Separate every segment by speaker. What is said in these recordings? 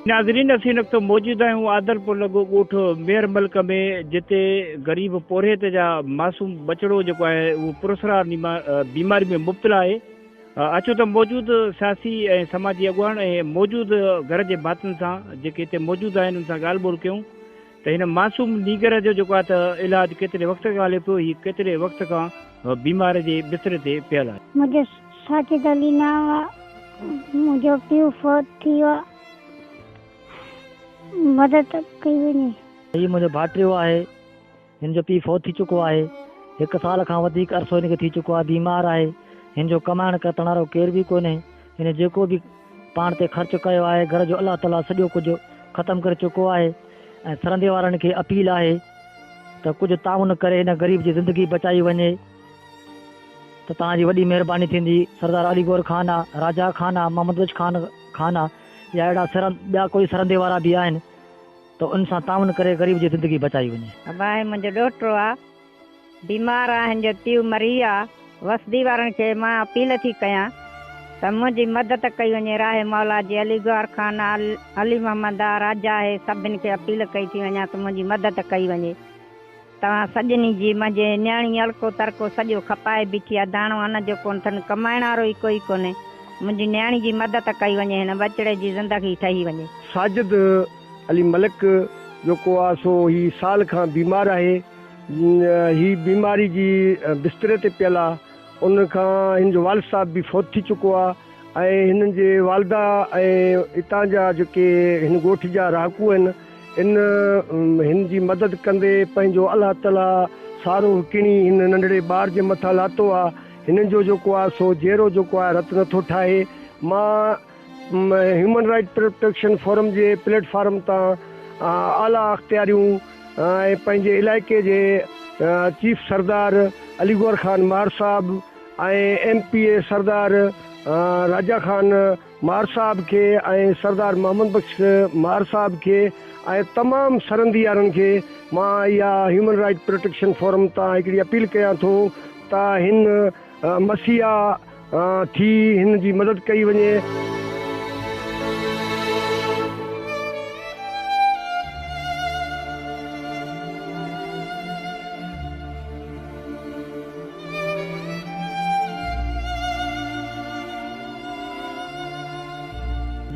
Speaker 1: ناظرين اسين ان وقت موجود آهيون عادلپور لڳو ڳوٺ مير ملڪ ۾ جتي غريب پورهيت جا معصوم ٻچڙو جيڪو آهي اهو پراسرار بيماري ۾ مبتلا آهي اچو ته موجود سياسي ۽ سماجي اڳواڻ ۽ موجود گهر جي ڀاتين سان جيڪي هتي موجود آهن ان سان ڳالهه ٻولهه ڪيون ته هن معصوم نينگر جو جيڪو آهي ته علاج ڪيتري وقت کان هلي پيو هي ڪيتري وقت کان بيمار جي بستري تي پيل آهي. منهنجو ساجد
Speaker 2: علي نانء آهي منهنجو پيء فوت ٿي ويو آهي مدد ڪئي وڃي. هي منهنجو ڀائٽيو
Speaker 3: آهي هن جو پيء فوت ٿي چڪو آهي. هڪ سال کان وڌيڪ عرصو هن کي ٿي چڪو آهي بيمار آهي. هن جو ڪمائڻ ڪرتڻ وارو ڪير به ڪونهي. هن جيڪو به پاڻ تي خرچ ڪيو آهي گهر جو الله تعاليٰ سڄو ڪجهه ختم ڪري چڪو آهي ۽ سرندي وارن کي اپيل آهي ته ڪجهه تعاون ڪري هن غريب جي زندگي بچائي وڃي ته توهان جي وڏي مهرباني ٿيندي. سردار علي گور خان آ، راجا خان آ، محمد بخش خان خان آ يا اهڙا سرند ٻيا ڪوئي سرندي وارا به آهن. ته ان سان تعاون ڪري غريب جي زندگي بچائي وڃي. اباهي منهنجو ڏوهٽو
Speaker 4: آ بيمار آ هن جو پيء مري ويو آ وسدي وارن کي مان اپيل ٿي ڪيان ته منهنجي مدد ڪئي وڃي راهي مولا جي علي گوهر خان آ علي محمد آ راجا هي سڀن کي اپيل ڪئي ٿي وڃان ته منهنجي مدد ڪئي وڃي. توهان سڄني جي منهنجي نياڻي الڪو ترڪو سڄو کپائي بيٺي آ داڻو ان جو ڪونه ٿن ڪمائڻ وارو ئي ڪوئي ڪونهي منهنجي نياڻي جي مدد ڪئي وڃي هن ٻچڙي جي زندگي ٺهي وڃي. ساجد
Speaker 5: علي ملڪ جيڪو آ سو هي سال کان بيمار آهي هي بيماري جي بستري تي پيل آ ان کان هن جو والد صاحب به فوت ٿي چڪو آ. ۽ هنن جي والده ۽ اتان جا جيڪي هن ڳوٺ جا رهاڪو آهن ان هن جي مدد ڪندي پنهنجو الله تعالي سارو ڪڻي هن ننڍڙي ٻار جي مٿان لاتو آ هنن جو جيڪو آ سو جيرو جيڪو آ رت نٿو ٺاهي مان هيومن رائيٽ پروٽيڪشن فورم جي پليٽ فارم تان اعليٰ اختياريون ۽ پنهنجي علائقي جي چيف سردار علي گوهر خان مار صاحب ۽ M P A Sardar Raja Khan Mar صاحب کي ۽ سردار محمد بخش مار صاحب کي ۽ تمام سرنديارن کي مان اها هيومن رائيٽ پروٽيڪشن فورم تان هڪڙي اپيل ڪيان ٿو ته هن مسيحا ٿي هن جي مدد ڪئي وڃي.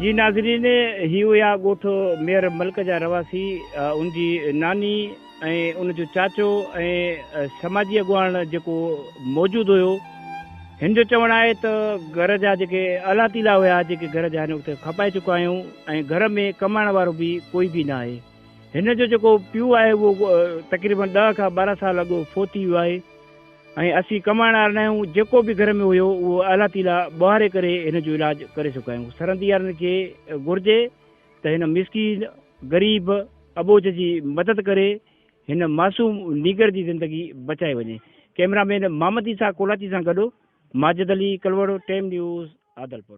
Speaker 1: جي ناظرين هي هيا ڳوٺ مير ملڪ جا رهواسي ان جي ناني ۽ ان جو چاچو ۽ سماجي اڳواڻ جيڪو موجود هيو هن جو چوڻ آهي ته گهر جا جيڪي الا تيلا هيا جيڪي گهر جا هن وقت کپائي چڪا آهيون ۽ گهر ۾ ڪمائڻ وارو به ڪوئي به ناهي. هن جو جيڪو پيو آهي اهو تقريبن ڏهه کان ٻارهن سال اڳ فوت ٿي ويو آهي ۽ اسين ڪمائڻ وارا ناهيون جيڪو به گهر ۾ هيو اهو الله تعالي ٻوهاري ڪري هن جو علاج ڪري چڪا آهيون سرنديارن کي گهرجي ته هن مسڪين غريب اٻوجهه جي مدد ڪري هن معصوم نينگر جي زندگي بچائي وڃي ڪئميرا مين محمد عيسيٰ ڪولاچي سان گڏ ماجد علي ڪلوڙو ٽيم نيوز عادلپور.